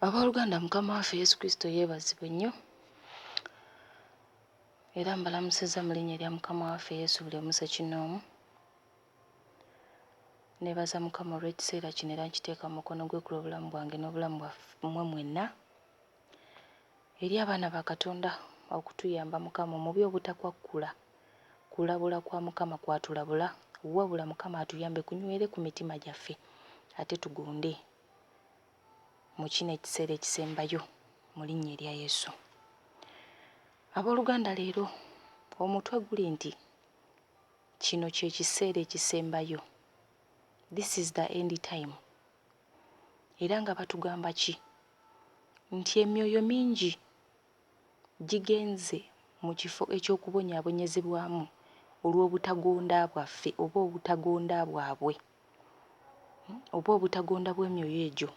Abooluganda, Mukama waffe Yesu Kristo yeebazibwe nnyo. Era mbalamusizza mu linnya erya Mukama waffe Yesu buli omu ssekinnoomu. Neebaza Mukama olw'ekiseera kino era nkiteeka mu mukono gwe ku lw'obulamu bwange n'obulamu bwammwe mwenna. eri abaana ba Katonda okutuyamba Mukama omubi obutakwakkula kulabula kwa Mukama kwatulabula wabula Mukama atuyambe kunywere ku mitima gyaffe ate tugonde mu kino ekiseera ekisembayo mu linnya erya Yesu. Abooluganda leero omutwe guli nti kino kye kiseera ekisembayo. This is the end time. era nga batugamba ki nti emyoyo mingi gigenze mu kifo eky'okubonyaabonyezebwamu olw'obutagonda bwaffe oba obutagonda bwabwe oba obutagonda bw'emyoyo egyo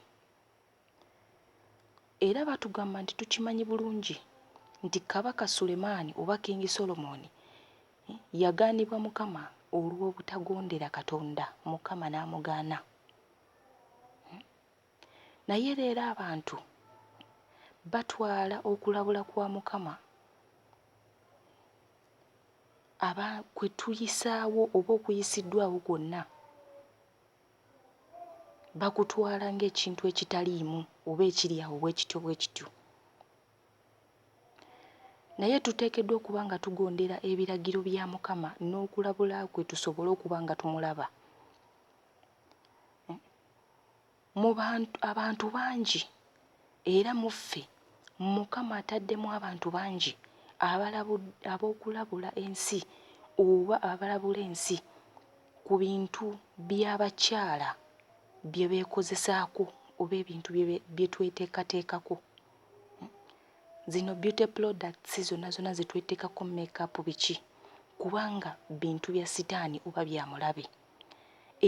era batugamba nti tukimanyi bulungi nti kabaka Sulemaani oba Kingi Solomoni yagaanibwa Mukama olw'obutagondera Katonda Mukama n'amugaana. Hmm? Naye leero abantu batwala okulabula kwa Mukama aba kwe tuyisaawo oba okuyisiddwawo kwonna bakutwala ng'ekintu ekitaliimu oba ekiri awo bwe kityo bwe kityo naye tuteekeddwa okuba nga tugondera ebiragiro bya mukama n'okulabula kwe tusobole okuba nga tumulaba Mu bantu, abantu bangi era mu ffe Mukama ataddemu abantu bangi abalabu, ab'okulabula ensi oba abalabula ensi ku bintu by'abakyala bye beekozesaako oba ebintu bye, bye tweteekateekako. Zino beauty products zonna zonna ze tweteekako, make up biki, kubanga bintu bya sitaani oba bya mulabe.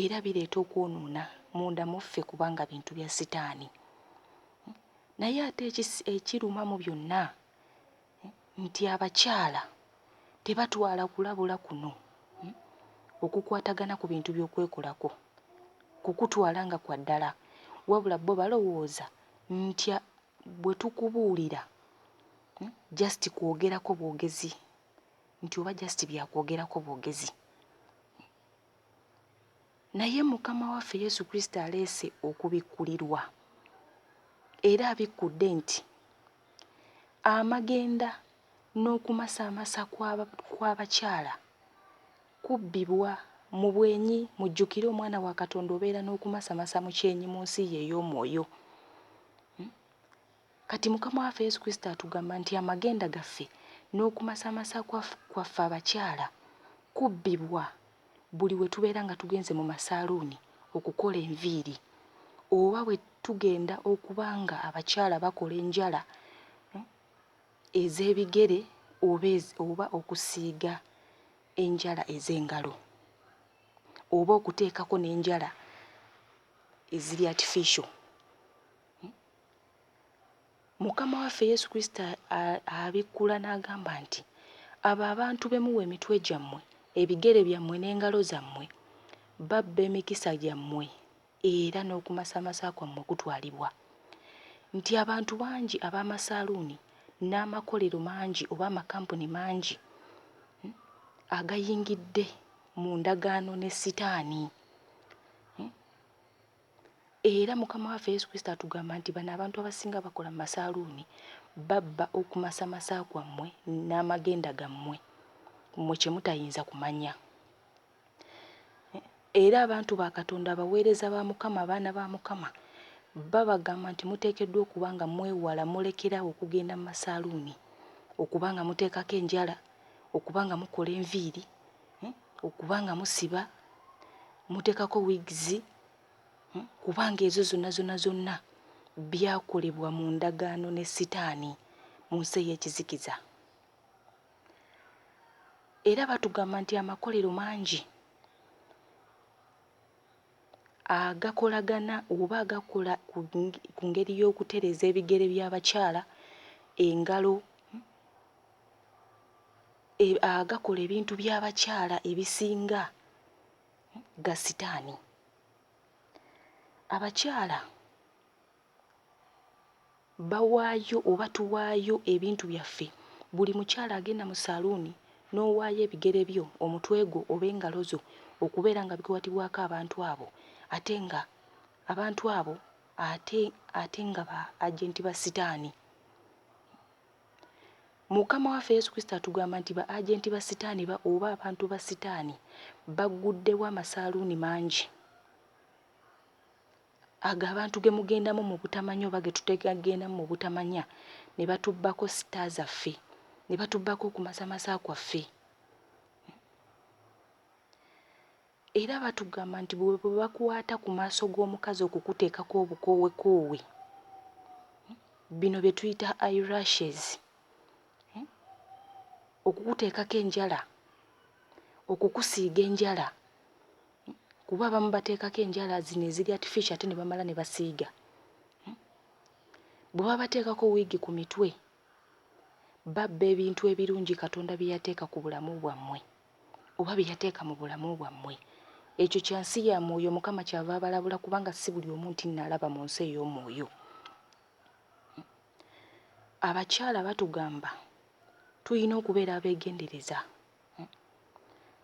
era bireeta okwonoona munda mu ffe kubanga bintu bya sitaani. Naye ate ekiruma mu byonna nti abakyala tebatwala kulabula kuno hmm, okukwatagana ku bintu by'okwekolako kukutwala nga kwa ddala, wabula bo balowooza nti bwe tukubuulira hmm, just kwogerako bwogezi nti oba just byakwogerako bwogezi naye mukama waffe yesu kristo aleese okubikkulirwa era abikkudde nti amagenda n'okumasaamasa kw'abakyala kubbibwa mu bwenyi mujjukire omwana wa katonda obeera n'okumasamasa mu kyenyi mu nsi ye ey'omwoyo hmm? Kati Mukama waffe Yesu Kristo atugamba nti amagenda gaffe n'okumasamasa kwa kwaffe abakyala kubbibwa buli we tubeera nga tugenze mu masaaluuni okukola enviiri oba bwe tugenda okuba nga abakyala bakola enjala hmm, ez'ebigere oba, oba okusiiga enjala ez'engalo oba okuteekako n'enjala eziri artificial Mukama waffe Yesu Kristo abikkula n'agamba nti, Abo abantu be muwa emitwe gyammwe, ebigere byammwe n'engalo zammwe, babba emikisa gyammwe era n'okumasamasa kwammwe kutwalibwa. Nti abantu bangi ab'amasaaluuni n'amakolero mangi oba amakampuni mangi hmm, agayingidde mu ndagaano ne Sitaani. Hmm? Era Mukama waffe Yesu Kristo atugamba nti bano abantu abasinga bakola mu masaaluuni babba okumasamasa kwammwe n'amagenda gammwe mmwe kye mutayinza kumanya. Era abantu ba Katonda abaweereza ba Mukama abaana ba Mukama babagamba nti muteekeddwa okuba nga mwewala mulekeraawo okugenda mu masaaluuni okuba nga muteekako enjala okuba nga mukola enviiri hmm? okuba nga musiba muteekako wigs hmm? kubanga ezo zonna zonna zonna byakolebwa mu ndagaano ne sitaani mu nsi ey'ekizikiza era batugamba nti amakolero mangi agakolagana oba agakola ku ngeri y'okutereeza ebigere by'abakyala engalo agakola ebintu by'abakyala ebisinga ga sitaani. Abakyala bawaayo oba tuwaayo ebintu byaffe, buli mukyala agenda mu saaluuni n'owaayo ebigere byo, omutwe gwo oba engalo zo okubeera nga bikwatibwako abantu abo ate nga abantu abo ate ate nga ba ajenti ba sitaani. Mukama waffe Yesu Kristo atugamba nti ba agenti ba Sitaani ba oba abantu ba Sitaani bagguddewo amasaaluuni mangi ago abantu ge mugendamu mu butamanya oba ge tutegendamu mu butamanya ne batubbako sita zaffe ne batubbako okumasamasa kwaffe. Era batugamba nti bwe bakwata ku maaso g'omukazi okukuteekako obukoowekoowe, bino bye tuyita eyerashes, okukuteekako enjala, okukusiiga enjala kuba abamu bateekako enjala zino eziri artificial ate ne bamala ne basiiga. Bwe babateekako wiigi ku mitwe babba ebintu ebirungi Katonda bye yateeka ku bulamu bwammwe. oba bye yateeka mu bulamu bwammwe. Ekyo kya nsi ya mwoyo, Mukama kyava abalabula kubanga si buli omu nti nalaba mu nsi ey'omwoyo. Abakyala batugamba tulina okubeera abeegendereza.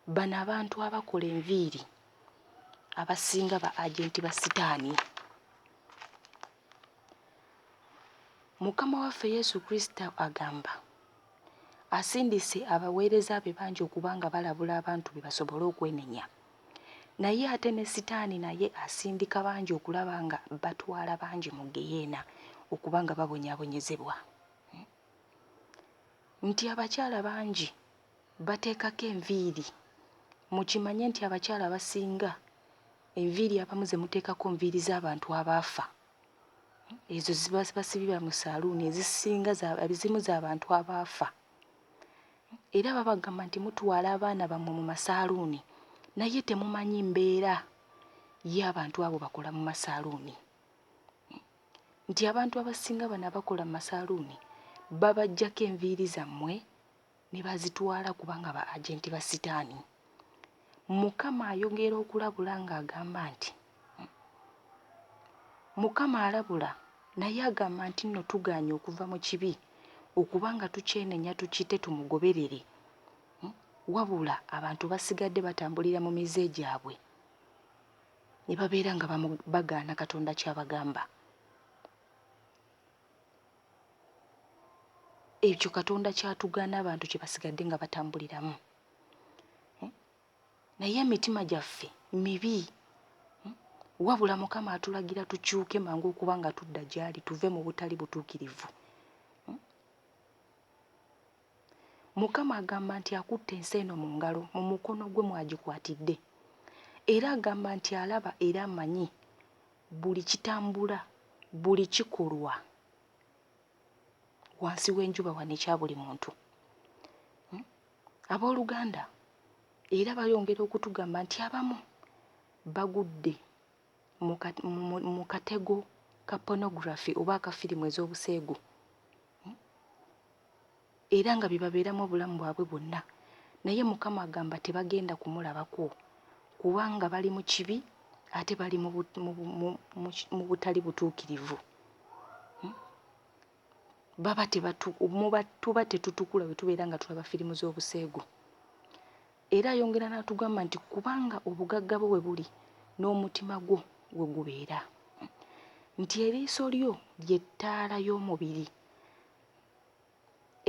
Bano abantu abakola enviiri abasinga ba agenti ba sitaani. Mukama waffe Yesu Kristo agamba, asindise abaweereza be bangi okuba nga balabula abantu be basobole okwenenya. Naye ate ne Sitaani naye asindika bangi okulaba nga batwala bangi mu ggeyeena okuba nga babonyaabonyezebwa. Nti abakyala bangi bateekako enviiri, mukimanye nti abakyala abasinga Enviiri abamu ze muteekako nviiri z'abantu abaafa. Ezo ziba basibira mu saaluuni ezisinga ezimu za bantu abaafa. Era babagamba nti mutwala abaana bammwe mu masaaluuni naye temumanyi mbeera y'abantu abo bakola mu masaaluuni. Nti abantu abasinga bano abakola mu masaaluuni babaggyako enviiri zammwe ne bazitwala kubanga ba agenti ba sitaani. Mukama ayogera okulabula ng'agamba nti Mukama alabula naye agamba nti nno tugaanye okuva mu kibi okuba nga tukyenenya tukite tumugoberere hmm? wabula abantu basigadde batambulira mu mize gyabwe ne babeera nga bagaana katonda kyabagamba ekyo katonda kyatugaana abantu kyebasigadde nga batambuliramu hmm? naye emitima gyaffe mibi hmm? wabula mukama atulagira tukyuke mangu okuba nga tudda gyali tuve mu butali butuukirivu Mukama agamba nti akutte ensi eno mu ngalo, mu mukono gwe mw'agikwatidde. Era agamba nti alaba era amanyi buli kitambula, buli kikolwa wansi w'enjuba wano ekya buli muntu. Hmm? Abooluganda era bayongera okutugamba nti abamu bagudde mu katego ka pornography oba akafirimu ez'obuseegu. era nga bye babeeramu obulamu bwabwe bwonna, naye Mukama agamba tebagenda kumulabako kubanga bali mu kibi ate bali mu bu, mu, bu, mu, mu, mu butali butuukirivu. Hmm? Baba tebatu, muba, tuba tetutukula bwe tubeera nga tulaba firimu z'obuseegu. Era ayongera n'atugamba nti kubanga obugagga bwo we buli n'omutima gwo we gubeera nti eriiso lyo lye ttaala y'omubiri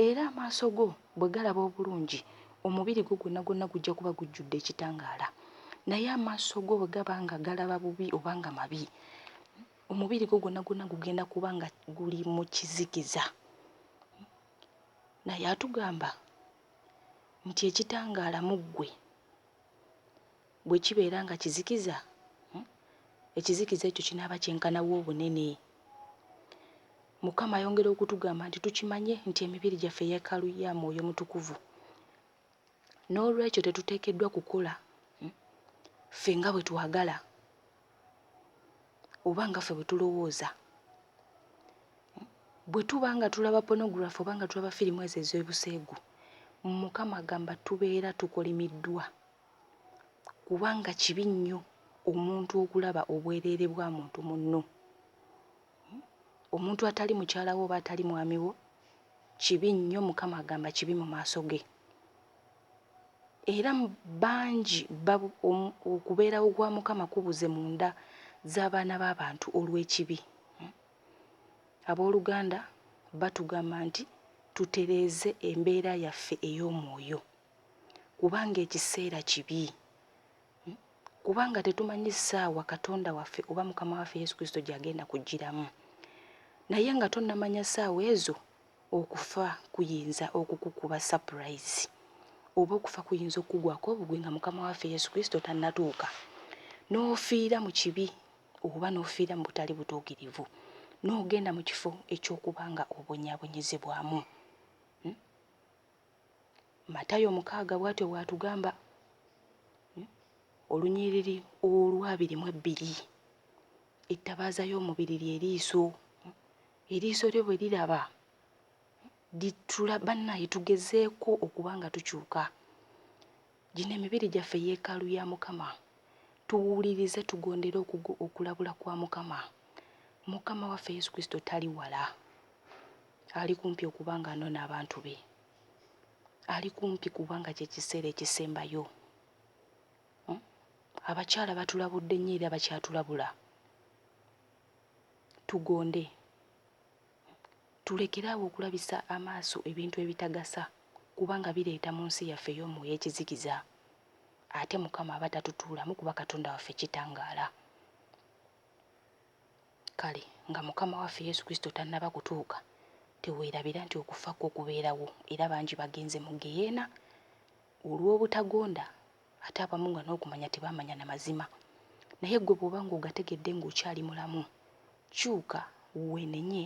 Era amaaso go bwe galaba obulungi, omubiri gwo gwonna gwonna gujja kuba gujjudde ekitangaala. Naye amaaso go bwe gaba nga galaba bubi oba nga mabi, omubiri gwo gwonna gwonna gugenda kuba nga guli mu kizikiza. Naye atugamba nti ekitangaala mu ggwe. Bwe kibeera nga kizikiza, ekizikiza ekyo kinaaba kyenkana wa obunene? Mukama ayongera okutugamba nti tukimanye nti emibiri gyaffe yeekaalu ya Mwoyo Mutukuvu. N'olwekyo tetuteekeddwa kukola ffe nga bwe twagala oba nga ffe bwe tulowooza. Bwe tuba nga tulaba pornography oba nga tulaba firimu ezo ez'obuseegu, Mukama agamba tubeera tukolimiddwa. Kubanga kibi nnyo omuntu okulaba obwereere bwa muntu munno. Omuntu atali mukyala wo oba atali mwami wo kibi nnyo, Mukama agamba kibi mu maaso ge. Era bangi okubeerawo kwa Mukama kubuze mu nda z'abaana b'abantu olw'ekibi. Abooluganda batugamba nti tutereeze embeera yaffe ey'omwoyo. kubanga ekiseera kibi, kubanga tetumanyi ssaawa Katonda waffe oba Mukama waffe Yesu Kristo gy'agenda kujjiramu. Naye nga tonnamanya ssaawa ezo, okufa kuyinza okukukuba sapurayizi oba okufa kuyinza okukugwako obugwi nga Mukama waffe Yesu Kristo tannatuuka, n'ofiira mu kibi oba n'ofiira mu butali butuukirivu, n'ogenda mu kifo eky'okuba nga obonyaabonyezebwamu. Matayo mukaaga bw'atyo bw'atugamba, hmm, olunyiriri olw'abiri mu ebbiri. Ettabaaza y'omubiri lye liiso. Hmm, eriiso lyo bwe liraba hmm, litula bannaye tugezeeko okuba nga tukyuka. Gino emibiri gyaffe yeekaalu ya Mukama, tuwulirize tugondere okugo okulabula kwa Mukama. Mukama waffe Yesu Kristo tali wala, ali kumpi okuba ng'anona abantu be. Ali kumpi kubanga kye kiseera ekisembayo. Hmm? Abakyala batulabudde nnyo era bakyatulabula. Tugonde. Tulekere awo okulabisa amaaso ebintu ebitagasa kubanga bireeta mu nsi yaffe ey'omwoyo ekizikiza ate Mukama aba tatutuulamu kuba Katonda waffe kitangaala. Kale nga Mukama waffe Yesu Kristo tannaba kutuuka, teweerabira nti okufa kwo kubeerawo era bangi bagenze mu ggeyeena olw'obutagonda ate abamu nga n'okumanya tebamanya na mazima naye ggwe bw'oba ng'ogategedde ng'okyali mulamu kyuka weenenye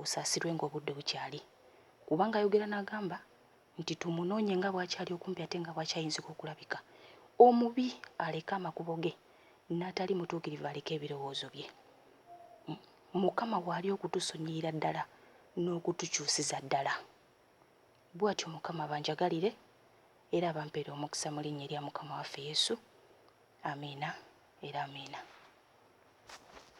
osaasirwe ng'obudde bukyali kubanga ayogera n'agamba nti tumunoonye nga bw'akyali okumpi ate nga bw'akyayinzika okulabika omubi aleke amakubo ge n'atali mutuukirivu aleke ebirowoozo bye hmm? mukama waali okutusonyiyira ddala n'okutukyusiza ddala Bwatyo Mukama abanjagalire era abampere omukisa mu linnya erya Mukama waffe Yesu. Amiina era Amiina.